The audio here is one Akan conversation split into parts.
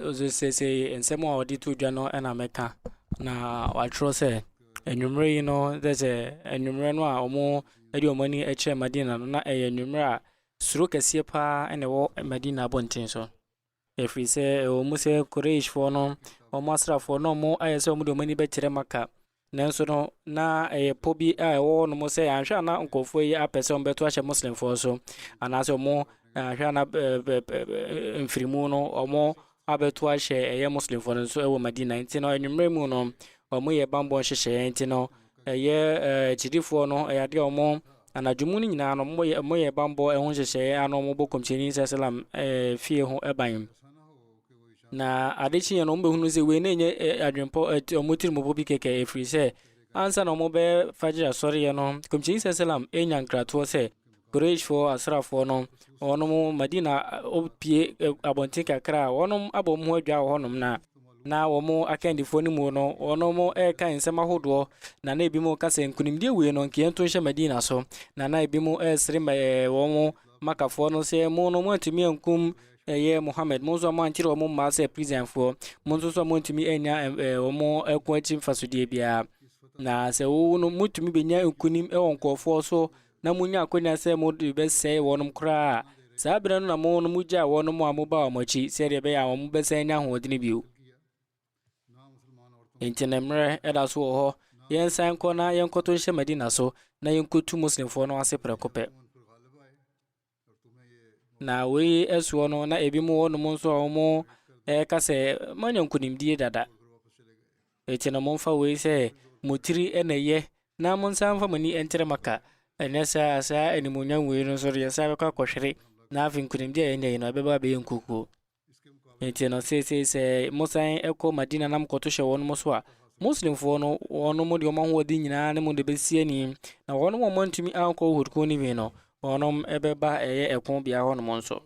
Nso seesei nsɛm a wɔde to dwa no na mɛka na wɔatwerɛ sɛ anwummerɛ yi no dɛ sɛ anwummerɛ no a wɔde wɔn ani kyerɛ Madina no na ɛyɛ anwummerɛ a suro kɛseɛ paa na ɛwɔ Madina abɔnten so. Ɛfiri sɛ ɛwɔ mu sɛ Quraishfoɔ no wɔn asraafoɔ no wɔayɛ sɛ wɔde wɔn ani bɛkyerɛ Maka. Nanso no, na ɛyɛ pɔ bi a ɛwɔ hɔnom sɛ anhwɛ a na nkurɔfoɔ yi apɛ sɛ wɔbɛto ahyɛ Muslimfoɔ so, anaasɛ wɔn anhwɛ a na mfirimu no wɔn abɛto ahyɛ ɛyɛ Muslimfoɔ no nso wɔ Madina. Nti no, anwummerɛ mu no, wɔyɛ bammɔ nhyehyɛeɛ. Nti no, ɛyɛ akyidifoɔ no, ɛyɛ adeɛ a wɔn anadwo mu no nyinaa no, wɔyɛ bammɔ ɛho nhyehyɛeɛ a na wɔbɔ kɔmhyɛni sɛ salam fie ho ban. Na ade kyeeɛ no, wɔbɛhunu sɛ wei na ɛnyɛ adwempɔ, wɔn tirimupɔ bi kɛkɛ, ɛfiri sɛ ansa na wɔbɛyɛ fajr asɔreɛ no, kɔmhyɛni sɛ salam ɛnya nkratoɔ sɛ Qurayshfoɔ asrafoɔ no, wɔnom Madina pie abɔnten kakra a wɔnom abɔ wɔn ho adwa wɔ hɔnom na na wɔn akandifoɔ no mu no, wɔnom ɛreka nsɛm ahodoɔ, na na ebinom ka sɛ nkunimdie wei no nkeɛ nto nhyɛ Madina so, na na ebinom ɛresere wɔn makafoɔ no sɛ mo no moantumi ankum Ɛyɛ Mohammed, mo nso a moankyere wɔn mmaa sɛ Persianfoɔ, mo nso nso a moantumi annya wɔn ɛko akyi mfasodeɛ biara. Na sɛ wowo no, motumi bɛnya nkonim wɔ nkurɔfoɔ so, na monya akwanya sɛ mode bɛsɛe wɔnom koraa a, saa berɛ no na mo no mogyaa wɔnom a moba wɔn akyi, sɛdeɛ ɛbɛyɛ a wɔn bɛsan anya ahoɔdene bio. Enti ne mmerɛ ɛda so wɔ hɔ, yɛnsan nkɔ na yɛnkɔto nhyɛ Madina so, na yɛnkɔtu Muslimfoɔ no ase prɛko pɛ. Na wei soɔ no, na ebi mu wɔ nom nso a wɔka sɛ, moanya nkonimdie dada. Eti no momfa wei sɛ mo tiri na ɛyɛ, na monsan mfa mo ani nkyerɛ Maka. Ɛnyɛ saa a, saa animuonyam wei no nso deɛ, saa bɛkɔ akɔhwere, na afei nkonimdie a yɛanya yi no, ɛbɛba abɛyɛ nkukuo. Enti no, seesei sɛ mosan kɔ Madina na mokɔto hyɛ wɔnom so a, Muslimfoɔ no, wɔnom de wɔn ahoɔden nyinaa ne mo de bɛsi ani, na wɔnom a wɔantumi ankɔ Uhud ko no bi no, wɔnom bɛba ɛyɛ ɛko bea hɔnom nso.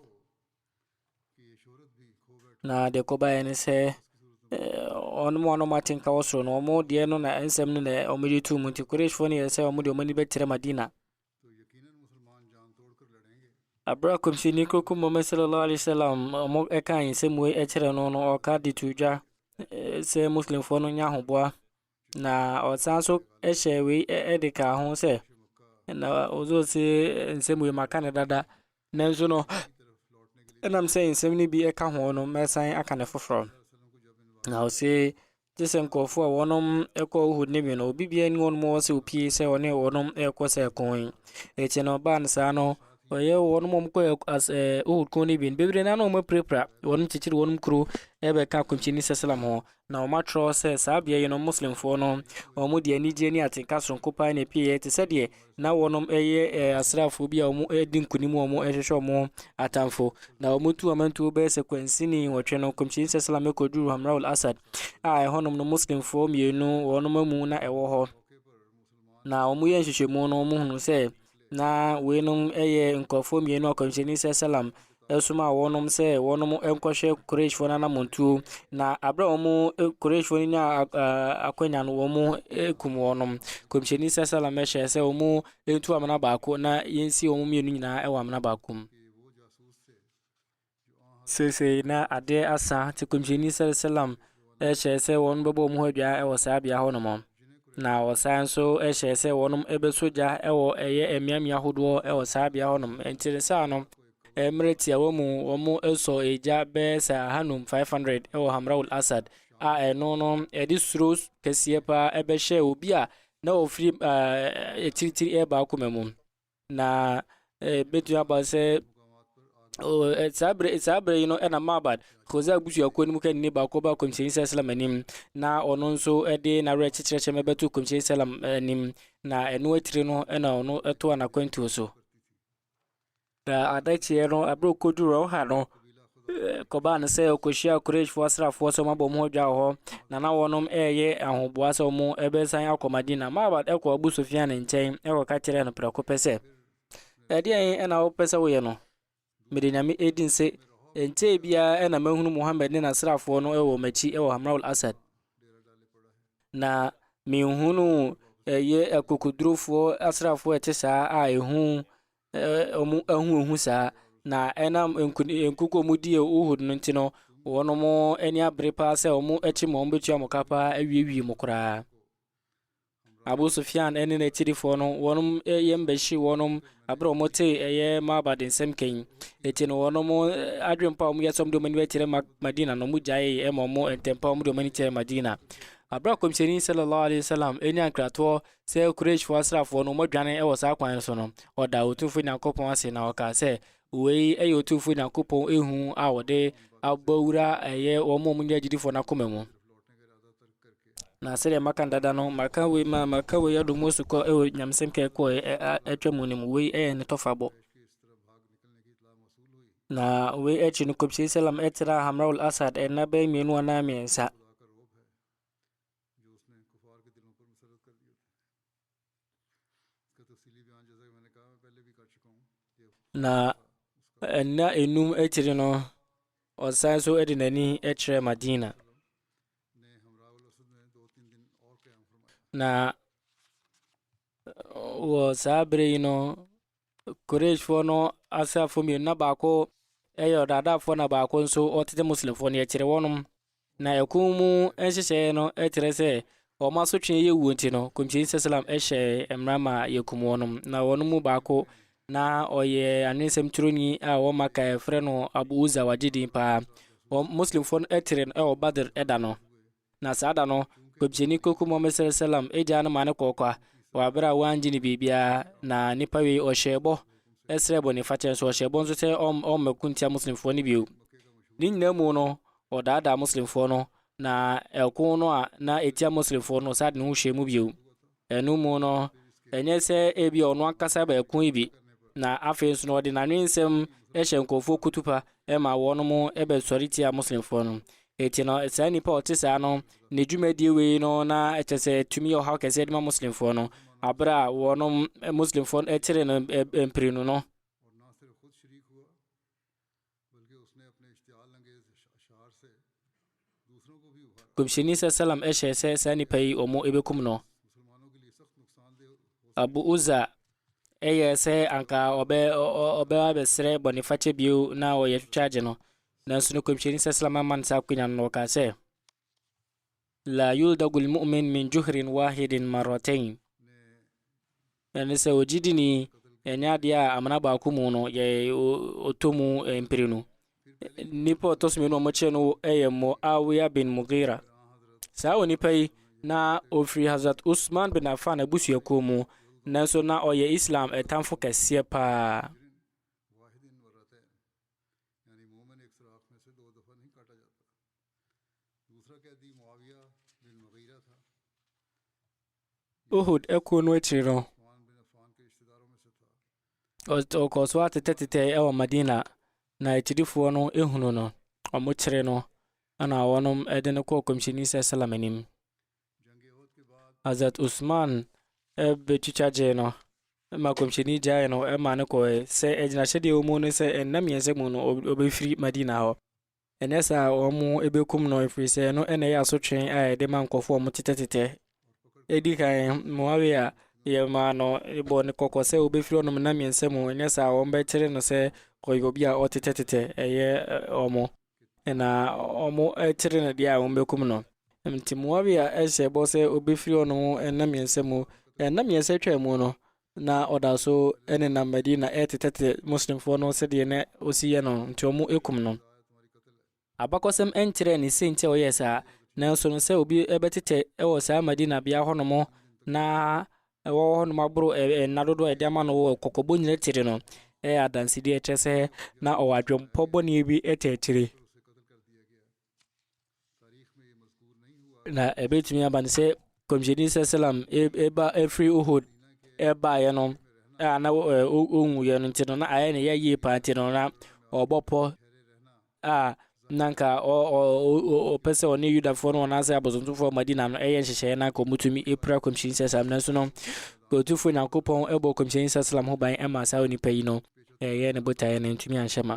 Na deɛ kɔbaeɛ ne sɛ, wɔnom a wɔnom ate nka wɔ soro no, wɔn deɛ no na nsɛm no na wɔde tuu mu, nti Qurayshfoɔ no yɛɛ sɛ wɔn deɛ wɔn ani bɛkyerɛ Madina. Bere a Kɔmhyɛni Kronkron Muhammad sallallahu alaihi wasallam wɔn kaa nsɛm wei kyerɛ no no, ɔka de to dwa sɛ Muslimfoɔ no nya ahoboa. Na ɔsan nso hyɛ wei de kaa ho sɛ, na ɔdze ɔse nsɛm wei maka no dada. Nanso no, ɛnam sɛ nsɛm no bi ka ho no, mɛsan aka no foforɔ. Na ɔse, gye sɛ nkurɔfoɔ a wɔnom ɛkɔ Uhud no bi no, obi biara ni wɔn mu wɔ sɛ opie sɛ ɔne wɔnom ɛrekɔ sɛ ɛko yi. Akyi no, baa no saa no, ɔyɛ wɔn mu kɔ as ɛɛ Uhud ko no bi no bebree na na wɔn apirapira wɔn kyekyere wɔn kuro ɛbɛka akɔnkyini sɛ salam ho Na wɔakyerɛw sɛ saa beae yi no Muslimfoɔ no wɔn mu de anigyeɛ ne atenka soronko paa na ɛpueeɛ te sɛ deɛ na wɔnom yɛ eh, asraafoɔ bi a wɔn eh, di nkonim wɔn eh, hwehwɛ wɔn atamfo. Na wɔn tu wɔn ntuo bɛyɛ sɛ kwansini nwɔtwe no, Kɔmhyɛni sɛ salam kɔduruu Hamraul Asad a ɛhɔnom no Muslimfoɔ mmienu wɔnom amu na ɛwɔ hɔ. Na wɔyɛ nhwehwɛmu no, wɔhunu sɛ na weinom yɛ nkurɔfoɔ mmienu a kɔmhyɛni sɛ salam ɛsoma wɔnom sɛ wɔnom nkɔhwɛ Qurayshfoɔ no anamontuo na aberɛ a wɔn Qurayshfoɔ no nyaa akwanya no wɔn kum wɔnom kɔmhyɛni sɛ salam hyɛɛ sɛ wɔn ntu amena baako na yɛnsi wɔn mmienu nyinaa wɔ amena baako mu Seesei na adeɛ asa, te Kɔmhyɛni sal salam hyɛɛ sɛ wɔn bɛbɔ wɔn ho adwaa wɔ saa bea hɔ nom. Na ɔsan nso hyɛɛ sɛ wɔnom bɛsɔ gya wɔ ɛyɛ mmeammea hodoɔ wɔ saa bea hɔ nom. Nti no saa no, mmerɛ tiawa mu wɔn sɔ egya bɛyɛ sɛ ahanum, 500, wɔ Hamra'ul Asad, a ɛno no ɛde suro kɛseɛ paa bɛhyɛɛ obi a na ɔfiri akyirikyiri reba akoma mu. Na ɛbɛtumi aba sɛ saa bere saa bere yi no ɛna mabad koza abusuakuo no mu kanni baako ba kɔmhyɛni sɛ salam anim na ɔno nso ɛde n'awerɛ kyekyerɛkyɛ ma ɛbɛto kɔmhyɛni salam anim na ɛno akyire no ɛna ɔno ɛto anakwantuo so na adakyeɛ no abere kɔduru ɔha no Ɛkɔbaa no sɛ ɔkɔhyiaa Quraishfoɔ asraafoɔ sɛ wɔabɔ wɔn ho dwa wɔ hɔ, na na wɔnom reyɛ ahoboa sɛ wɔbɛsan akɔ Madina. Ma'bad kɔɔ Abu Sufyan nkyɛn kɔka kyerɛɛ no prɛko pɛ sɛ, Ɛdeɛn na wopɛ sɛ woyɛ no? Mede Nyame di nse, ɛnkyɛɛ biara na mahunu Muhammad ne n'asraafoɔ no wɔ m'akyi wɔ Hamra'ul Asad, na menhunuu ɛyɛ akokodurofoɔ asraafoɔ a ɛte saa a ehu wɔahuhu saa, na ɛnam nkoni nkuku a wɔdi Uhud no nti no, wɔn ani abere paa sɛ wɔakyi mo, wɔbɛtua mo ka paa awiewie mo koraa. Abu Sufyan ne n'akyirifoɔ no, wɔn yam bɛhye wɔn abere a wɔte ɛyɛ Maaba de nsɛm kɛn. Eti no wɔn adwene pa a wɔyɛ sɛ wɔde wɔn ani bɛkyerɛ Madina no, wɔgyae ma wɔn ntɛmpa wɔde wɔn ani kyerɛ Madina. Abere a kɔmhyɛni sallallahu alaihi wasallam nya nkratoɔ Sɛ Quraishfo asraafoɔ no wɔdwane wɔ saa kwan so no, wɔdaa Otumfoɔ Nyankopɔn ase na wɔkaa sɛ, Wei yɛ Otumfoɔ Nyankopɔn ehu a wɔde abɔ wura a ɛyɛ wɔn a wɔnyɛ agyidifoɔ no akoma mu. Na sɛdeɛ maka no dada no, maka wei ma maka wei adɔ mu asukɔ wɔ nyamesɛm ka ɛkɔɔ atwa mu no mu. Wei yɛ ne tɔfabɔ. Na wei akyi no, Kɔmhyɛni Salam tra Hamraul Asad nna bɛyɛ mmienu anaa mmiɛnsa. Na nna enum akyiri no, ɔsan so de n'ani kyerɛɛ Madina. Na wɔ saa bere yi no, Quraishfoɔ no asraafoɔ mmienu, na baako yɛ ɔdaadaafoɔ na baako nso ɔtete Muslimfoɔ no, yɛkyere wɔnom. Na ɛko mu nhyehyɛeɛ no kyerɛ sɛ wɔn asotweɛ yɛ wuo nti no, Kɔmhyɛni sa salam hyɛɛ mmara ma yɛkum wɔnom. Na wɔn mu baako, na ɔyɛ anwensɛm twerɛni a wɔ Maka yɛfrɛ no Abu Uzza, wagye din paa. Wɔn Muslimfoɔ no kyeree no wɔ Badr da no. Na saa da no, nkɔmhyɛni kɔku Muhammad sallallahu alaihi wasallam agya no maa no kɔɔ kwa wɔ bere a wangye no biribiara, na nipa wei ɔhyɛɛ bɔ srɛɛ bɔnefakyɛ nso ɔhyɛɛ bɔ nso sɛ ɔm ɔmmɛko ntia Muslimfoɔ no bio. Ne nyinaa mu no, ɔdaadaa Muslimfoɔ no, na ɛko no a na ɛtia Muslimfoɔ no, ɔsan de ne ho hyɛɛ mu bio. Ɛno mu no, ɛnyɛ sɛ ebia ɔno ankasa bɛyɛ koe bi, na afei nso no ɔde n'anwensɛm hyɛ nkurɔfoɔ kutupa ma wɔnom bɛsɔre tia Muslimfoɔ no. Enti no, saa nnipa a ɔte saa no, ne dwumadie wei no na kyerɛ sɛ ɛtumi yɛ ɔhaw kɛseɛ de ma Muslimfoɔ no, aberɛ a wɔnom, Muslimfoɔ no, kyere no mprenu no. Kɔmhyɛni sɛ salam hyɛɛ sɛ saa nnipa yi wɔn bɛkum no. Abu Uza yɛ sɛ anka ɔbɛ ɔbɛ abɛsrɛ bɔnefakyɛ bio na ɔyɛ twitwa agye no nanso no kɔmhyɛni sɛ salam amma no saa akonya no na ɔkaa sɛ Laa yuldaghu lmu'min min juhrin waahidin marratayn, ɛne sɛ ogyidini ɛnyɛ adeɛ a amena baako mu no yɛ ɔtɔ mu mprenu nipa ɔtɔ so mmienu a wɔkyerɛ no yɛ Muawiya bin Mughira saa onipa yi na ɔfiri Hazrat Usman bin Affan abusuakuo mu nanso na ɔyɛ Islam ɛtamfo kɛseɛ paa Uhud ɛko no akyiri no ɔkɔɔ so atetɛtetɛ ɛwɔ Madina na akyirifoɔ no ehunu no ɔmo kyere no ɛna wɔnom ɛde no kɔɔ kɔmhyɛni sɛ salam anim Hazrat Usman ɛbɛtwitwa gyee no ɛma kɔmhyɛni gyae no ɛma no kɔɛ sɛ ɛgyinahyɛdeɛ wɔ mu no sɛ ɛnna mmiɛnsa mu no ɔbɛfiri Madina hɔ Anyɛ saa a, wɔbɛkum no, ɛfiri sɛ ɛno na ɛyɛ asotwe a yɛde ma nkurɔfoɔ a wɔtetɛtetɛ. Ɛdi kan, Muawia, yɛmaa no, yɛbɔɔ no kɔkɔ sɛ wɔbɛfiri ɔnom nna mmiɛnsa mu, anyɛ saa a wɔbɛkyere no sɛ ɔyɛ obi a ɔtetɛtetɛ, ɛyɛ wɔn. Na wɔkyere no deɛ a, wɔbɛkum no. Nti Muawia hyɛɛ bɔ sɛ ɔbɛfiri ɔnom nna mmiɛnsa mu. Nna mmiɛnsa twaa mu no, na ɔda so nenam Madina retetetete Muslimfoɔ no sɛdeɛ na ɔsi yɛ no, nti wɔkum no. Abakɔsɛm nkyerɛɛ ne sei nti a ɔyɛɛ saa, nanso no sɛ obi bɛtetɛ wɔ saa Madina bea hɔnom na wawɔ hɔnom aboro nna dodoɔ a yɛde ama no wɔ kɔkɔbɔ nyina akyire no, ɛyɛ adansedie a ɛkyerɛ sɛ na ɔwɔ adwenpɔ bɔne bi tɛ akyire. na ɛbɛtumi aba no sɛ kɔmhyɛni sɛ salam ɛba ɛfiri uhud ɛbaeɛ no a na ɔnwuiɛ no nti no na ayɛ ne yɛyie paa nti no na ɔbɔ pɔ a na nka ɔpɛ sɛ ɔne yudafoɔ no ɔnaasɛ abosomtofoɔ madina no ɛyɛ nhyehyɛeɛ na nka ɔmutumi ɛpira kɔmhyɛni sɛ salam nanso no kɔtufoɔ nyankopɔn ɛbɔ kɔmhyɛni sɛ salam ho ban ɛma saa onipa yi no ɛyɛ ne botaeɛ no ntumi anhyɛ ma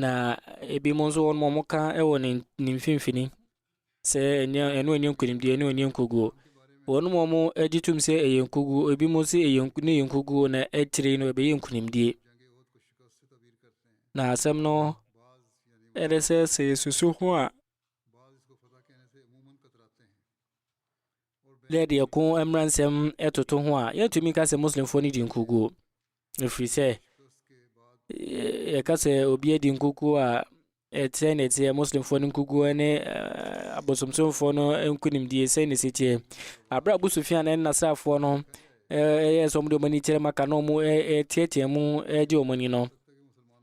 Na ebinom nso wɔn wɔka wɔ ne ne mfimfini sɛ ɛnyɛ ɛno ɛnyɛ nkunimdie ɛno ɛnyɛ nkoguo wɔn wɔn gye tom sɛ ɛyɛ nkoguo ebinom sɛ ɛyɛ ne yɛ nkoguo na akyire no ɛbɛyɛ nkunimdie na asɛm no ɛde sɛ sɛ yɛsusu ho a dɛ deɛ ko mmaransɛm ɛtoto ho a yɛntumi nka sɛ muslimfoɔ no di nkoguo Ɛfiri sɛ, yɛka sɛ obi adi nkukuo a ɛteɛ na ɛteɛ muslimfoɔ no nkukuo ne abosomsomfoɔ no nkunimdie sɛ ne siteɛ aberɛ a abusufia no nasraafoɔ no ɛyɛ sɛ ɔmde ɔm ani kyerɛ maka na ɔm ɛteatea mu ɛgye ɔm ani no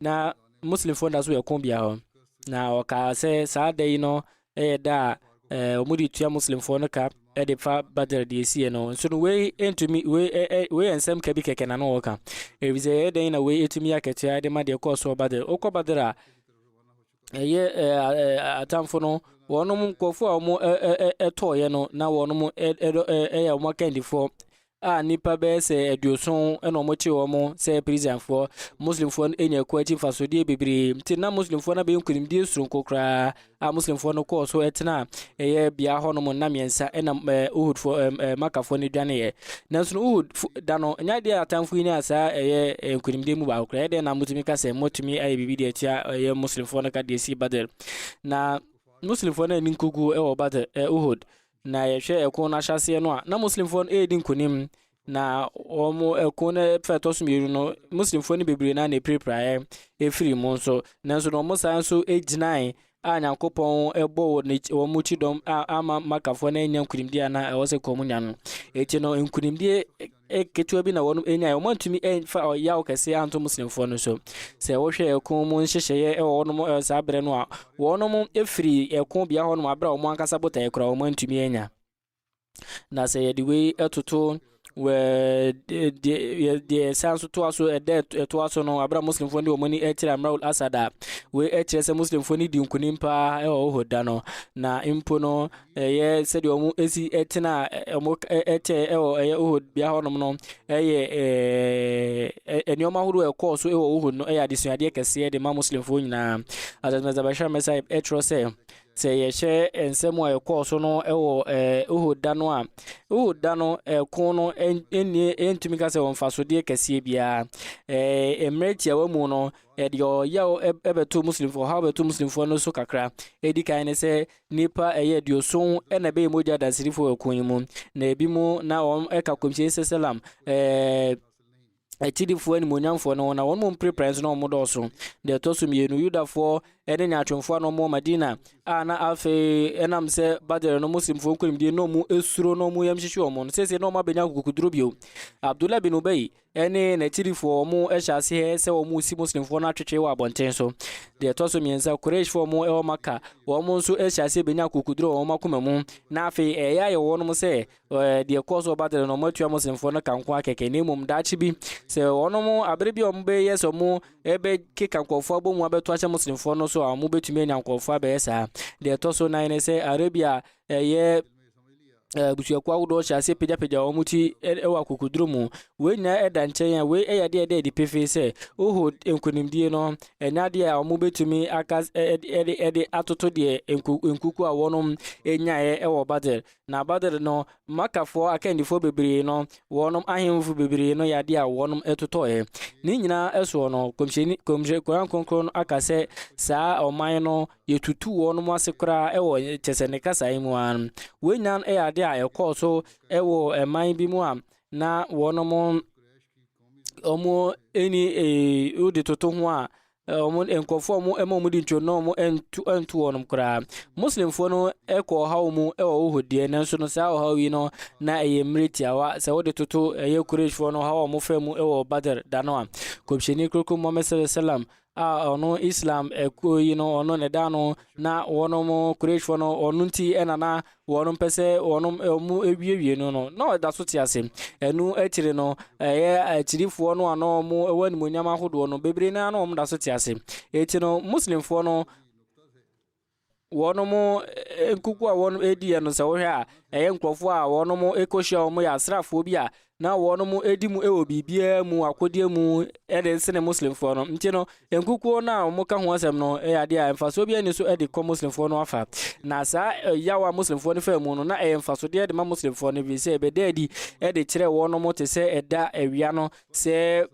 na muslimfoɔ da so ɛko bia hɔ na ɔkaa sɛ saa da yi no yɛ da a ɛɛ wɔn de tua muslimfoɔ no ka de fa badr deɛ esie no nso no wei ntumi wei ɛɛ wei yɛ nsɛm ka bi kɛkɛ na no wɔka efisɛ ɛyɛ dɛn na wei etumi akatua de ma deɛ kɔɔ soɔ badr okɔ badr a ɛyɛ ɛɛ atamfo no wɔn nkorɔfoɔ a wɔn ɛɛ ɛtɔɔyɛ no na wɔn ɛɛ ɛyɛ wɔn akandifoɔ a nnipa bɛyɛ sɛ aduoson na wɔkyere wɔn sɛ prisianfoɔ. Muslimfoɔ no anya ɛko akyi mfasodeɛ bebree, nti na Muslimfoɔ no abɛyɛ nkunimdie soronko koraa, a Muslimfoɔ no kɔɔ so tena ɛyɛ bea hɔnom nna mmiɛnsa na Uhudfoɔ ɛɛ Makafoɔ no dwaneeɛ. Nanso no Uhud da no, nyɛ adeɛ a atamfo yi nyaa saa ɛyɛ nkunimdie mu baako koraa. Ɛdeɛ na motumi ka sɛ motumi ayɛ biribi de atua ɛyɛ Muslimfoɔ no ka deɛ ɛsii Badr. Na Muslimfoɔ no anni nkoguo wɔ Badr ɛɛ Uhud. Na yɛhwɛ ɛko no ahyɛaseɛ no a, na Muslimfoɔ no ɛredi nkonim. Na wɔn ɛko no fɛ ɛtɔ so mmienu no, Muslimfoɔ no bebree na na ɛpirapiraeɛ ɛfiri mu nso. Nanso na wɔn san nso gyinae a Nyankopɔn ɛbɔ wɔn kyidɔm a ama Makafoɔ no annya nkonimdie a na ɛwɔ sɛ kɔn mu nya no. Ɛti no nkonimdie ketewa bi na wɔnom nyae. Wɔn antumi mfa ɔyaw kɛse anto Muslimfoɔ no so. Sɛ wohwɛ ɛko mu nhyehyɛeɛ wɔ wɔnom saa berɛ no a, wɔnom firi ɛko bea hɔnom aberɛ a wɔn ankasa botaeɛ koraa wɔn antumi anya. Na sɛ yɛde wei ɛtoto deɛ san so toa so ɛdɛ ɛtoa so no aberɛ a Muslimfoɔ de wɔn ani ɛkyerɛ Amraul Asad a, wei ɛkyerɛ sɛ Muslimfoɔ no di nkunim paa ɛwɔ Uhud da no. Na mpo no ɛyɛ sɛdeɛ wɔn si tena wɔn kyɛɛ wɔ ɛyɛ Uhud bea hɔnom no ɛyɛ ɛɛ nneɛma ahodoɔ a ɛkɔɔ so wɔ Uhud no ɛyɛ adesuadeɛ kɛseɛ de ma muslimfoɔ nyinaa asasmɛsabɛhyɛ mɛsa ɛtwerɛ sɛ sɛ yɛhyɛ nsɛm a ɛkɔɔ so no wɔ ɛɛ Uhud da no a Uhud da no ɛko no ɛnnie ɛntumi ka sɛ wɔn mfasodeɛ kɛseɛ biara ɛɛ mmerɛ tiawa mu no ɛde ɔyaw ɛbɛto muslimfoɔ ɔhaw bɛto muslimfoɔ no so kakra ɛdi kan ne sɛ Nnipa ɛyɛ aduoson na ɛbɛyɛ mogya adansirifo wɔ ɛko yi mu, na ebi mu na wɔn ɛka kɔmhyɛni sɛsɛlam ɛɛ akyidifo animuonyamfoɔ no ho, na wɔn mu mprepra nso na wɔn dɔɔso. Deɛ ɛtɔ so mmienu, Yudafoɔ ɛne nyaatwomfoɔ a na wɔn wɔ Madina a na afei ɛnam sɛ Badr no Muslimfoɔ nkonimdie na wɔn esuro na wɔn yam hyehye wɔn no, seesei na wɔn abɛnya akokoduro bio. Abdullah bin Ubay ne n'akyirifoɔ, wɔhyɛ aseɛ sɛ wɔresi Muslimfoɔ no atwetwe wɔ abɔnten so. Deɛ ɛtɔ so mmiɛnsa, Qurayshfoɔ wɔn ɛwɔ Maka, wɔn nso hyɛ aseɛ bɛnya akokoduro wɔ wɔn akoma mu, na afei ɛyɛ ayɛ wɔ wɔn sɛ ɛɛ, deɛ ɛkɔɔ so Badr no, wɔatua Muslimfoɔ no ka nko akɛkɛ, na mmom daakye bi, sɛ wɔn abere bi a wɔbɛyɛ sɛ wɔbɛkeka nkurɔfoɔ abɔ mu abɛto ahyɛ Muslimfoɔ no so a, wɔbɛtumi anya nkurɔfoɔ abɛyɛ saa. Deɛ ɛtɔ so nan ne sɛ Arabia ɛyɛ abusuakuo ahodoɔ hyɛ aseɛ pagyapagya wɔn ti wɔ akokoduro mu wei nyinaa ɛda nkyɛn a wei yɛ adeɛ ɛda adi pefee sɛ uhud nkonimdie no ɛnyɛ adeɛ a wɔbɛtumi aka ɛde ɛde atoto deɛ nkuku a wɔnom ɛnyaeɛ ɛwɔ badr na badr no makafoɔ akandifoɔ bebree no wɔnom ahemfo bebree no yɛ adeɛ a wɔnom ɛtotɔɛ ne nyinaa ɛsoɔ no kɔmhyɛni kɔmhyɛ koran kronkron no aka sɛ saa ɔman no Yɛtutuu wɔnom ase koraa wɔ kyɛ sɛ ne kasa yi mu ara no. Wei nyinaa no yɛ adeɛ a ɛkɔɔ so wɔ ɛman bi mu a na wɔnom wɔn ni ee wode toto ho a wɔn nkurɔfoɔ a wɔn ɛma wɔn di ntwam na wɔn ntu ntu wɔnom koraa. Muslimfoɔ no kɔ ɔhaw mu wɔ wohɔ deɛ nanso no saa ɔhaw yi no na ɛyɛ mmerɛ tiawa sɛ wode toto ɛyɛ kureshfoɔ no ɔhaw a wɔfra mu wɔ Badr da no a kɔmhyɛni kurokuro Muhammad sallallahu alaihi wasallam a ɔno Islam akuo yi no ɔno ne da no na wɔnom Qurayshfoɔ no ɔno nti ɛna na wɔnom pɛ sɛ wɔnom ɔmo awiewie no no na ɔda so te ase ɛno akyire no ɛyɛ akyirifoɔ no ano ɔmo ɛwɔ animonyam ahodoɔ no bebree naa na ɔmo da so te ase eti no Muslimfoɔ no Wɔn nkuku a wɔdiiɛ no sɛ wohwɛ a, ɛyɛ nkurɔfoɔ a wɔkɔhyia wɔn yɛ asraafoɔ bi a na wɔdi mu wɔ biribiara mu, akodeɛ mu de sene Muslimfoɔ no. Nti no, nkukuo no a wɔka ho asɛm no yɛ adeɛ a mfasoɔ biara nni so de kɔ Muslimfoɔ no afa. Na saa yaw a Muslimfoɔ no faa mu no, na ɛyɛ mfasodeɛ de ma Muslimfoɔ no, ɛfiri sɛ ɛbɛda adi de kyerɛ wɔn te sɛ ɛda awia no sɛ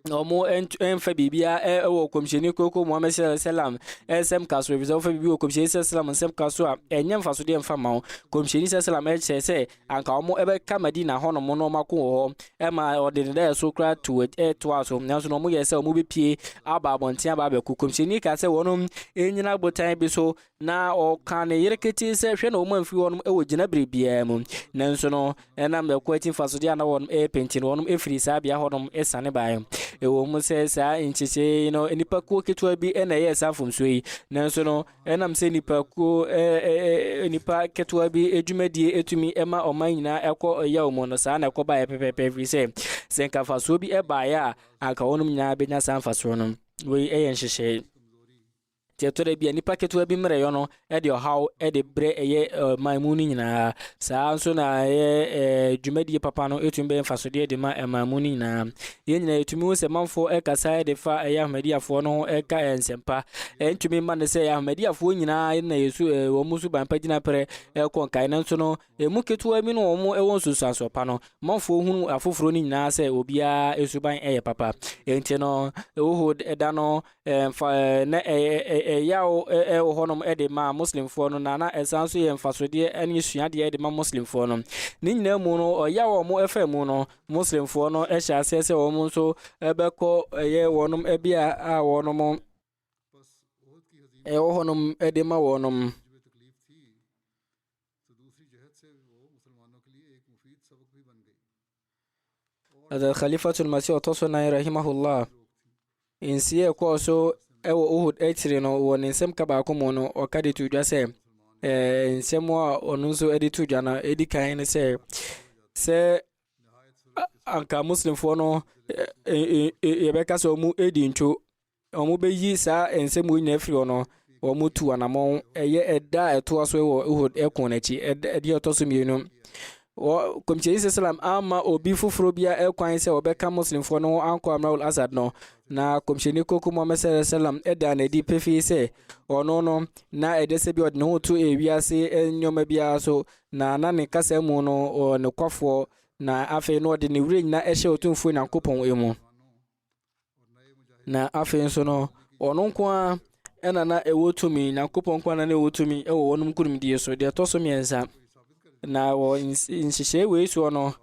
na wɔn ɛnfa biribiara wɔ kɔmhyɛni koko muhammed sɛlɛm sɛlɛm ɛsɛm ka so efisɛ wɔfa biribi wɔ kɔmhyɛni sɛlɛm sɛlɛm nsɛm ka so a ɛnyɛ nfa so deɛ nfa ma wɔn kɔmhyɛni sɛlɛm sɛlɛm ɛkyerɛ sɛ anka wɔn ɛbɛka madina hɔ nom na wɔn ako wɔ hɔ ɛma ɔde ne dɛ so kora to ɛtoa so nanso na wɔn yɛ sɛ wɔn bɛpie aba abɔnten aba abɛko kɔmhyɛni ka sɛ wɔn ɛnyina botan bi so Na ɔkaa ne yere ketee sɛ, Hwɛ na wɔn amfiri hɔnom wɔ gyinabre biara mu. Nanso no, ɛnam ne ko akyi mfasodeɛ a na wɔnom repɛ nti no, wɔnom firii saa bea hɔnom sane baeɛ. Ɛwɔ mu sɛ saa nkyekyee yi no, nnipa kuo ketewa bi na ɛyɛɛ saa mfomsoɔ yi, nanso no, ɛnam sɛ nnipa kuo, nnipa ketewa bi dwumadie tumi ma ɔman nyinaa kɔ yaw mu no, saa na ɛkɔ baeɛ pɛpɛɛpɛ, ɛfiri sɛ, sɛ nka mfasoɔ bi baeɛ a, anka wɔnom nyinaa bɛnya saa mfasoɔ no. Wei yɛ nhyehyɛe. Nti ɛtɔ da bi a nipa ketewa bi mmerɛyɔ no de ɔhaw de brɛ ɛyɛ ɛman mu no nyinaa. Saa ara nso na ɛyɛ ɛɛ dwumadie papa no etumi bɛyɛ mfasodeɛ de ma ɛman mu no nyinaa. Yɛn nyinaa yɛtumi hu sɛ manfoɔ ɛkasa de fa ɛyɛ Ahmadiyafoɔ no ho ɛka ɛyɛ nsɛmpa. Ɛntumi mma no sɛ Ahmadiyafoɔ nyinaa na yɛsu ɛɛ wɔn suban pa gyina pɛrɛ ɛkɔ nkae nanso no Emu ketewa bi ne wɔn a ɛwɔ nsunsuansoɔ pa no mafoɔ hunu afoforɔ no nyinaa sɛ obiara suban yɛ papa. Enti no, Uhud da no, mfa, na ɛyaw wɔ hɔnom de ma Muslimfoɔ no, na na ɛsan nso yɛ mfasodeɛ ne suadeɛ de ma Muslimfoɔ no. Ne nyinaa mu no, ɔyaw a wɔfa mu no, Muslimfoɔ no hyɛ aseɛ sɛ wɔn nso bɛkɔ ɛyɛ wɔn bea a wɔn ɛwɔ hɔnom de ma wɔn. Hazrat Khalifatul Masih ɔtɔ so nan rahimahullah nsi a ɛkɔɔ so wɔ Uhud akyire no wɔ ne nsɛm ka baako mu no ɔka de to dwa sɛ nsɛm a ɔno nso de to dwa no ɛdi kan ne sɛ sɛ anka muslimfoɔ no yɛbɛka sɛ ɔmu ɛdi ntwo wɔbɛyi saa nsɛm wei nyinaa firi hɔ no, wɔtu anammɔn. Ɛyɛ ɛda a ɛtoa so wɔ Uhud ɛko no akyi. Ɛdeɛ ɛtɔ so mmienu. Kɔmhyɛni sɛ salam ama obi foforɔ bia ɛkwan sɛ ɔbɛka Muslimfoɔ no ho ankɔ Amrawul Asad no. Na kɔmhyɛni koko Muhammad sɛ salam ɛda na ɛdi pefee sɛ ɔno no na ɛdɛ sɛ bia ɔde ne ho to ewiase nneɛma biara so. Na na ne kasa mu no ɔyɛ nokwafoɔ na afei no ɔde ne werɛ nyina ɛhyɛ Otumfoɔ Nyankopɔn mu. Na afei nso no, wɔn nko ara ɛna na ɛwɔ tumi, Nyankopɔn nko ara na ɛwɔ tumi ɛwɔ wɔn nkurumdie so. Deɛ ɛtɔ so mmiɛnsa, na wɔ nhyehyɛe wei soɔ no,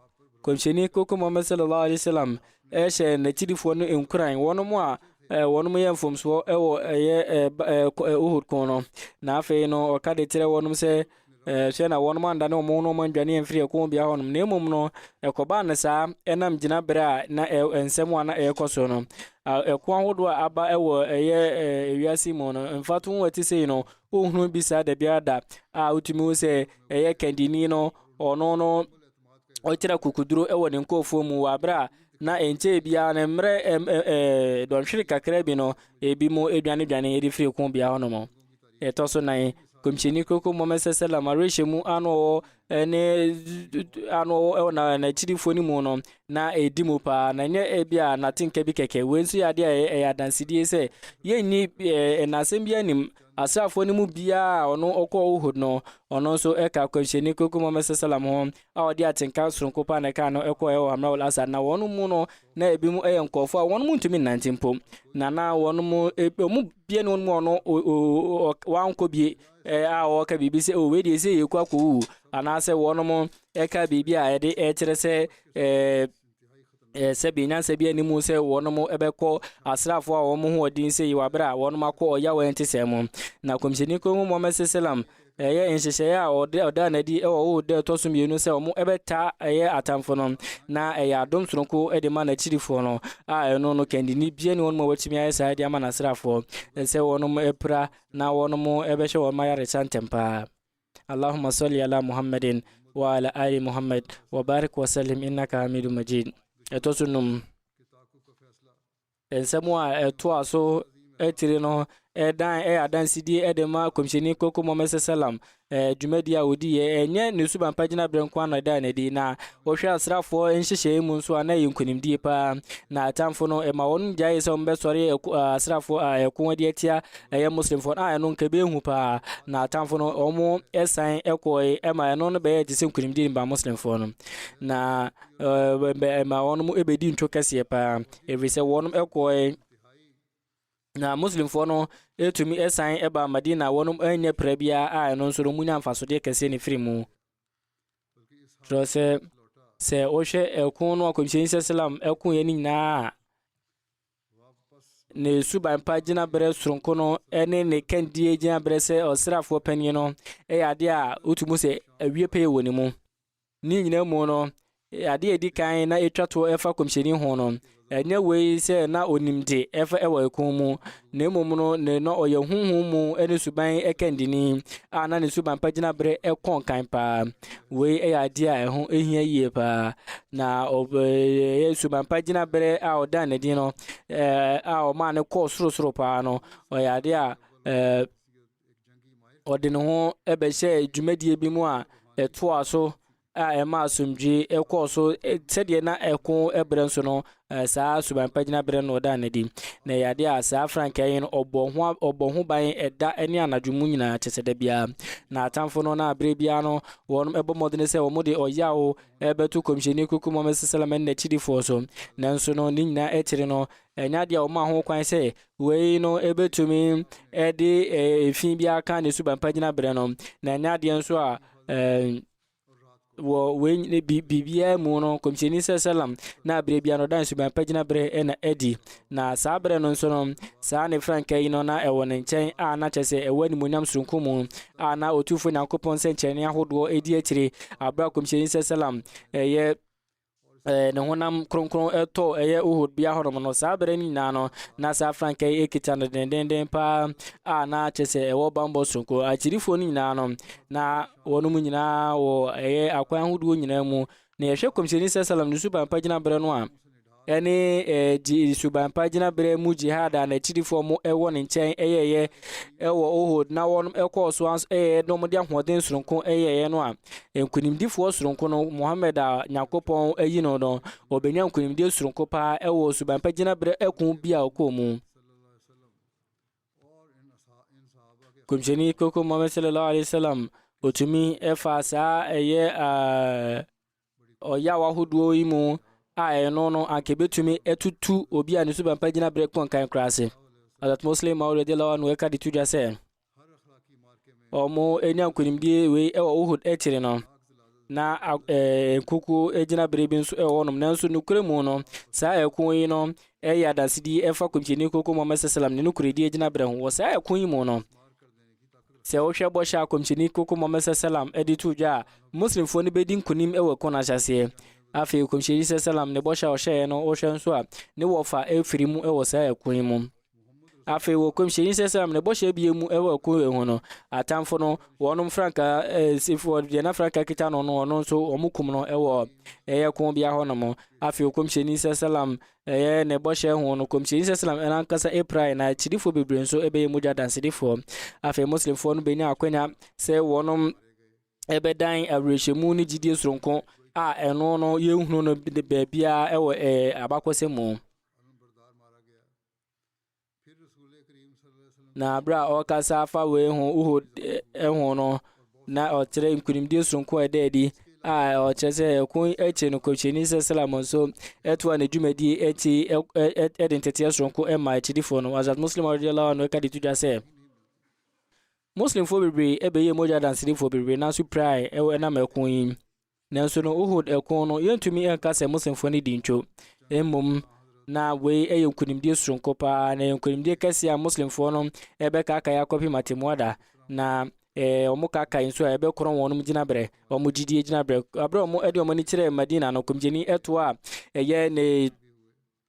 kɔmhyɛni koko Muhammad sallallahu alaihi wasallam ɛhyɛ n'akyirifoɔ no nkuran, wɔn a Eh, wɔn yɛ mfomsoɔ wɔ ɛyɛ eh, eh, eh, ohud ko no na afei no ɔka de kyerɛ wɔnom sɛ Ɛɛ, hwɛ, na wɔnom andane wɔn ho na wɔn andwane amfiri ɛko bea hɔ nom, na mmom no, ɛkɔbaa no saa ɛnam gyina berɛ a na ɛ, nsɛm a na ɛrekɔ so no. Ɛko ahodoɔ a aba wɔ ɛyɛ ɛɛ wiase mu no, mfato ho ɛte sei no, wohunu bi saa da biara da a wotumi hu sɛ ɛyɛ kandini no, ɔno no, ɔkyerɛ kukuduro wɔ ne nkɔɔfoɔ mu wɔ aberɛ a na ɛnkyɛɛ biara no mmerɛ ɛɛ dɔnhwere kakra bi no, ebi mu adwane dwane ɛde firi ɛko bea hɔ nom. Nea ɛtɔ so nan, Kɔmhyɛni Kronkron Muhammad sallam awerɛhyɛ mu a na ɔwɔ ne a na ɔwɔ na n'akyirifoɔ no mu no na ɛdi mu paa na nyɛ ebi a n'atenka bi kɛkɛ wei nso yɛ adeɛ a ɛyɛ adansedie sɛ yɛnni ɛnasɛm bi anim asraafoɔ no mu biara a ɔno ɔkɔ Uhud no ɔno nso ɛka Kɔmhyɛni Kronkron Muhammad sallam ho a ɔde atenka soronko paa na ɛka no ɛkɔ ɛwɔ Hamrawul Asad na wɔn mu no Na ebinom yɛ nkurɔfoɔ a wɔn ntumi nnante mpo, na na wɔn mu wɔn bie ne wɔn mu ɔno wankɔ bie a ɔreka biribi sɛ o wei deɛ sɛ yɛkɔ akɔwu anaasɛ wɔn ɛka biribi a ɛde ɛkyerɛ sɛ ɛɛ sɛ bi nyansa bi anim sɛ wɔn ɛbɛkɔ asraafoɔ a wɔn ho ɔden sɛ yi wɔ abere a wɔn akɔ ɔyaw ɛnte sɛ mu na kɔmhyɛni kɔn mu Muhammad sallam Ɛyɛ nhyehyɛe a ɔde ɔdaa no adi wɔ Ohud da a ɛtɔ so mmienu sɛ wɔbɛtaa ɛyɛ atamfo no, na ɛyɛ adom soronko de ma n'akyidifo no, a ɛno no kandini biara nni wɔnom a wɔatumi ayɛ saa de ama n'asraafoɔ, sɛ wɔnom pira na wɔnom bɛhwɛ wɔnom ayaresa ntɛmpa ara. Allahumma salli ala Muhammadin wa ala ali Muhammad wa barik wa sallim innaka Hamidun Majeed. Ɛtɔ so num. Nsɛm a ɛtoa so akyiri no dan yɛ adansedie de ma Kɔmhyɛni Koko Mohammed Sɛsɛlam dwumadie a ɔdiiɛ. Ɛnyɛ ne suban pa gyinaberɛ nko ara na ɛdaa no adi, na wohwɛ asraafoɔ nhyehyɛeɛ mu nso a, na ɛyɛ nkonimdie pa ara. Na atamfo no, ɛma wɔn gyaee sɛ wɔbɛsɔre asraafoɔ a ɛko de atia ɛyɛ Muslimfoɔ no, a ɛno nka ɛbɛyɛ hu pa ara. Na atamfo no, wɔsan kɔɔe, ɛma ɛno no bɛyɛɛ te sɛ nkonimdie de maa Muslimfoɔ no, na ɛma wɔn bɛdii ntwo kɛseɛ pa ara. ɛfiri sɛ wɔnom ɛkɔɔɛ na muslimfoɔ no ɛtumi ɛsan ɛba madina wɔnom ɛnyɛ prɛ biara a ɛno nso no munya mfasodeɛ kɛseɛ ne firi mu kyerɛ sɛ sɛ wohwɛ ɛko no akɔmhyɛni sɛ salam ɛkoeɛ no nyinaa a ne suban pa gyina berɛ soronko no ɛne ne kandie gyina berɛ sɛ ɔsrafoɔ panin no ɛyɛ adeɛ a wotumi sɛ awie pɛyɛ wɔ ne mu Ne nyinaa mu no, ade a ɛdi kan na ɛtwa toɔ ɛfa kɔmhyɛni ho no, ɛnyɛ wei sɛ na ɔnim de ɛfa ɛwɔ ɛkɔn mu, na mmom no ne na ɔyɛ honhom mu ɛne suban ɛkandini a na ne suban pa gyina berɛ ɛkɔ nkan paa. Wei ɛyɛ adeɛ a ɛho ɛhia yie paa, na ɔyɛ suban pa gyina berɛ a ɔdaa ne din no a ɔmaa no kɔɔ soro soro paa no, ɔyɛ adeɛ a ɛɛ. ɔde ne ho bɛhyɛɛ dwumadie bi mu a ɛtoa so a ɛma asomdwoe kɔɔ so sɛdeɛ na ɛko berɛ nso no saa suban pa gyina berɛ no ɔda no adi na ɛyɛ adeɛ a saa frankaa yi no ɔbɔ ho ɔbɔ ho ban ɛda ne anadwo mu nyinaa kyɛ sɛ da biara na atamfo no na berɛ biara no wɔn ɛbɔ mmɔden sɛ wɔn de ɔyaw ɛbɛto kɔmhyɛni kuku mɔmɛ sɛsɛlɛmɛ ne n'akyidifoɔ so nanso no ne nyinaa akyiri no Ɛnyɛ adeɛ a wɔma ho kwan sɛ wei no ɛbɛtumi de efi bi aka ne suban pa gyina berɛ no, na ɛnyɛ adeɛ nso a wɔ wei biribiara mu no kɔmhyɛni sɛ salam na berɛ bia no ɔda nsuban pa gyina berɛ ɛna adi na saa berɛ no nso no saa ne franka yi no na ɛwɔ ne nkyɛn a na kyɛ sɛ ɛwɔ animonyam soronko mu a na ɔtumfoɔ nyankopɔn sɛ nkyɛne ahodoɔ ɛdi akyire aberɛ a kɔmhyɛni sɛ salam ɛyɛ ɛɛ, ne honam kronkron tɔ ɛyɛ Uhud bea hɔnom no saa bere no nyinaa no na saa frankaa yi kita no dendenden paa a na kyɛ sɛ ɛwɔ bambɔ soronko akyirifoɔ no nyinaa no na wɔnom nyinaa wɔ ɛyɛ akwan ahodoɔ nyinaa mu na yɛhwɛ kɔmhyɛni sɛ salam ne suban pa gyina berɛ no a ɛne ɛɛ suban pa gyina berɛ mu jihad a n'akyirifoɔ mo ɛwɔ ne nkyɛn ɛyɛɛyɛ ɛwɔ Uhud na wɔnom ɛkɔɔ so ɛyɛ na wɔde ahoɔden soronko ɛyɛɛyɛ no a Nkonimdifoɔ soronko no, Muhammad a Nyankopɔn ayi no no, ɔbɛnya nkonimdie soronko paa ɛwɔ suban pa gyinaberɛ ɛko bi a ɔkɔɔ mu. Kɔmhyɛni koko Muhammad sallallahu alaihi wasallam ɔtumi ɛfa saa ɛyɛ ɔyaw ahodoɔ yi mu a ɛno no anka ɛbɛtumi ɛtutu obi a ne suban pa gyinaberɛ kɔnkan koraa ase. Adat Muslim Maulid Lawa no ɛka de to dwa sɛ, Wɔanya nkonimdie wei wɔ Uhud akyiri no. Na nkukuo gyinaberɛ bi nso wɔ hɔnom. Nanso nokorɛ mu no, saa ɛko yi no yɛ adansedie ɛfa Kɔmhyɛni Koko Muhammad Sallam ne nokorɛdie gyinaberɛ ho. Wɔ saa ɛko yi mu no, sɛ wohwɛ bɔhyɛ a Kɔmhyɛni Koko Muhammad Sallam de to dwa a, Muslimfoɔ no bɛdi nkonim wɔ ɛko no ahyɛseɛ. Afei Kɔmhyɛni Sallam ne bɔhyɛ a ɔhyɛeɛ no wohwɛ nso a, ne wɔfa firi mu wɔ saa ɛko yi mu. Afei wɔ kɔmhyɛni sɛsɛm ne bɔhyɛ bie mu wɔ ɛko wei ho no, atamfo no, wɔnom frankaa, ɛsifoɔ deɛ na frankaa kita no no, ɔno nso wɔn kum no wɔ ɛyɛ ko bia hɔ nom. Afei wɔ kɔmhyɛni sɛsɛlam ɛyɛ ne bɔhyɛ ho no, kɔmhyɛni sɛsɛlam ɛna ankasa ɛpirae na akyidifoɔ bebree nso ɛbɛyɛ mogya dansedifoɔ. Afei muslimfoɔ no bɛnya akwanya sɛ wɔnom ɛbɛdan awerɛhyɛmu ne gyidie soronko a ɛno no yɛhunu no baabiara ɛwɔ ɛɛ abakɔsɛ mu. Na bere a ɔrekasa afa wei ho Uhud eh, ho no na ɔkyerɛ nkonimdie soronko a ɛda adi a ɔkyerɛ sɛ ɛko akyi no kɔmhyɛni sɛ salam nso ɛtoa ne dwumadie akyi ɛde nteteɛ soronko ɛma akyidifoɔ no azat muslim radiallahu anhu ɛka de to dwa sɛ muslimfoɔ bebree ɛbɛyɛ mogya dansedifoɔ bebree nanso pirae ɛwɔ ɛnam ɛko yi Nanso no Uhud ɛko no, yɛntumi nka sɛ Muslimfoɔ no di ntwo. Mmom, na wei yɛ nkonimdie soronko paa, na yɛ nkonimdie kɛseɛ a Muslimfoɔ no ɛbɛkaakae akɔpem atemmuada, na eh, wɔn kaakae nso a ɛbɛkorɔn wɔn gyinabrɛ, wɔn gyidie gyinabrɛ. Aberɛ wɔn ɛde wɔn ani kyerɛɛ Madina no, kɔmgyeni ɛtoɔ a ɛyɛ ne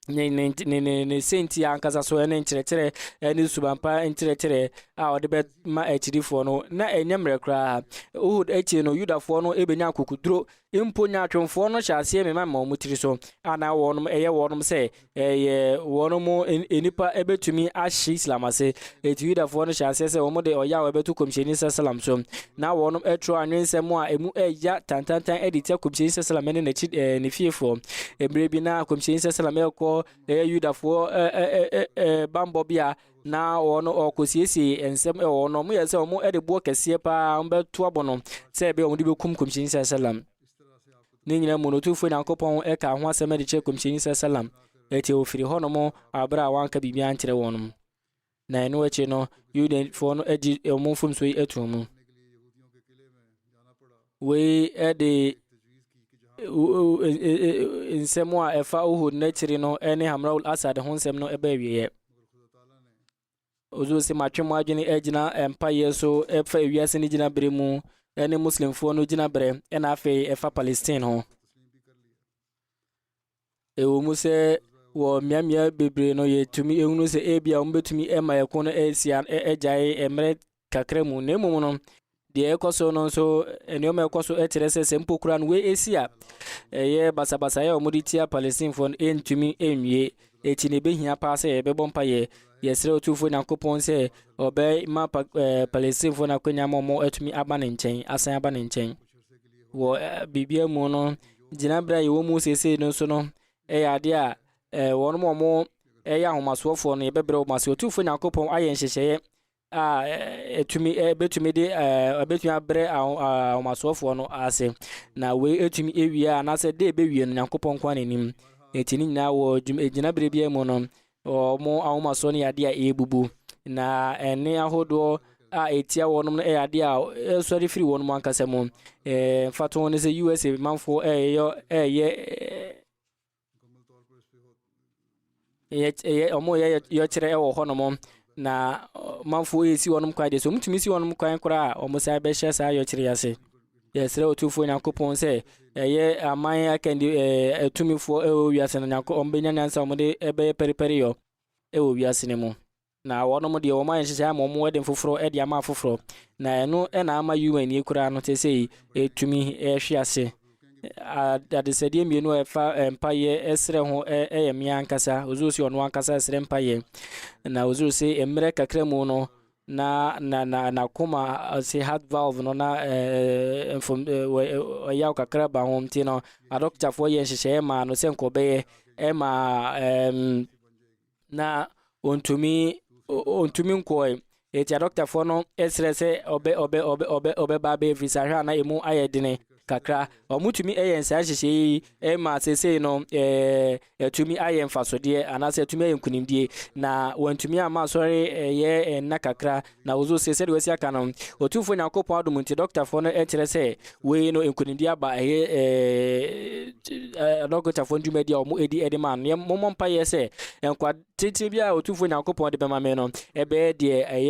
ne ne ne ne ne sɛntia ankasa so ne nkyerɛkyerɛ ne subanpa nkyerɛkyerɛ a ɔde bɛma akyidifoɔ no na ɛnyɛ mmerɛ koraa wohod akyi no yudafoɔ no ɛbɛnya akokoduro mpo nyaatwomfoɔ no hyɛ aseɛ mema ma wɔn tiri so ana wɔnom ɛyɛ wɔnom sɛ ɛyɛ wɔnom nnipa ɛbɛtumi ahye islam ase Enti Yudafoɔ no hyɛɛ aseɛ sɛ wɔde ɔyaw ɛbɛto Kɔmhyɛni Sasalam so, na wɔnom ɛtwerɛ anwensɛm a ɛmu ɛya tantantan ɛde tia Kɔmhyɛni Sasalam ɛne n'akyi ɛɛ ne fiefoɔ. Ɛberɛ bi na Kɔmhyɛni Sasalam ɛɛkɔ ɛɛ Yudafoɔ ɛɛ ɛɛ ɛɛ banbɔ bea, na wɔn ɔɔkɔ siesie ɛnsɛm ɛwɔ wɔn, wɔn yɛɛ sɛ wɔn ɛde boɔ kɛseɛ paa wɔn bɛto abɔ no, sɛ ɛbɛyɛ wɔn de bɛkum Kɔmhyɛni Sasalam. Ne nyina mu no, Otumfoɔ Nyankopɔn ɛkaa ho asɛm ɛde kyerɛ Kɔmhyɛni Sasalam, ɛti ɔfiri hɔnom aberɛ a wanka biribiara ankyerɛ wɔnom. Na ɛno akyi no, Yudafoɔ no agye wɔn mfomsoɔ yi ato mu. Wei de nsɛm a ɛfa Uhud n'akyiri no ne Hamraul Asad ho nsɛm no ɛbɛ awieɛ. Ozo sɛ matwe mo adwene agyina mpaeɛ so ɛfa ewiase no gyina bere mu ɛne Muslimfoɔ no gyina bere ɛna afei ɛfa Palestine ho. Ɛwɔ mu sɛ wɔ mmeammea bebree no yɛtumi ehunu sɛ ebi a wɔbɛtumi ma ɛko no asi agyae mmerɛ kakra mu na mmom no deɛ ɛkɔ so no nso nneɛma ɛkɔ so kyerɛ sɛ sɛ mpo kura no wɔasi a ɛyɛ basabasayɛ a wɔde tia palestinefoɔ no ɛntumi nwie ɛkyi na ɛbɛhia paa sɛ yɛbɛbɔ mpa yɛ yɛsrɛ ɔtumfoɔ nyankopɔn sɛ ɔbɛma palestinefoɔ no akwanya ma ɔmo atumi aba ne nkyɛn asan aba ne nkyɛn wɔ biribiara mu no gyinaberɛ a yɛwɔ mu seesei no nso no ɛyɛ adeɛ a wɔn a wɔn ɛyɛ ahomasoɔfoɔ no yɛbɛbrɛ wɔn ase ɔtumfoɔ nyankopɔn ayɛ nhyehyɛeɛ a ɛtumi ɛbɛtumi de ɛbɛtumi abrɛ ahomasoɔfoɔ no ase na wei ɛtumi ɛwie anaasɛ de ɛbɛwie no nyankopɔn nko n'anim ɛti ne nyinaa wɔ gyinaberɛ biara mu no Wɔn ahomasoɔ no yɛ adeɛ a ɛrebubu, na ɛnne ahodoɔ a ɛtia wɔn no yɛ adeɛ a ɛresɔre firi wɔn ankasa mu. Ɛɛ mfatoho ne sɛ USA manfoɔ reyɔ reyɛ yɛ wɔreyɛ yɛkyerɛ wɔ hɔnom na manfoɔ resi wɔn kwan deɛ sɛ wɔtumi si wɔn kwan koraa a wɔsan bɛhyɛ saa yɛkyerɛ ase. Yɛsrɛ Otumfoɔ Nyankopɔn sɛ ɛyɛ aman akandi ɛɛ atumifoɔ ɛwɔ wiase no Nyankopɔn wɔn bɛnya nyansa wɔn de ɛbɛyɛ pɛrepɛreyɔ ɛwɔ wiase no mu. Na wɔnom deɛ wɔn ayɛ nhyehyɛ ama wɔn ɛden foforɔ ɛde ama afoforɔ. Na ɛno ɛna ama UN yi koraa no sesei ɛtumi ɛhwe ase. Adesɛdeɛ mmienu a ɛfa mpaeɛ ɛsrɛ ho ɛyɛ me ankasa. Ozuro se ɔno ankasa ɛsrɛ mpaeɛ. Na ozuro se mmerɛ kakra mu no na na na n'akoma ase heart valve no na mfom ɔyaw kakra ba ho nti no adɔktafoɔ yɛ nhyehyɛeɛ maa no sɛ nkɔbɛyɛ ɛma ɛɛm na ɔntumi ɔntumi nkɔɛ eti adɔktafoɔ no ɛsrɛ sɛ ɔbɛ ɔbɛ ɔbɛ ɔbɛ ɔbɛba abɛyɛ visa hwɛ a na emu ayɛ dene kakra. Wɔtumi yɛ nsaa nhyehyɛe yi ma seesei no atumi ayɛ mfasodeɛ anaasɛ atumi ayɛ nkunimdie na wɔntumi ama asɔre yɛ nna kakra na wɔzo se sɛdeɛ wɔasi aka no Otumfoɔ Nyankopɔn adom nti dɔktafoɔ no kyerɛ sɛ wei no nkunimdie aba ɛyɛ dɔktafoɔ no dwumadi a wɔdi de ma no mommɔ mpa yɛ sɛ nkwa tenten bi a Otumfoɔ Nyankopɔn de bɛma me no ɛbɛyɛ deɛ ɛyɛ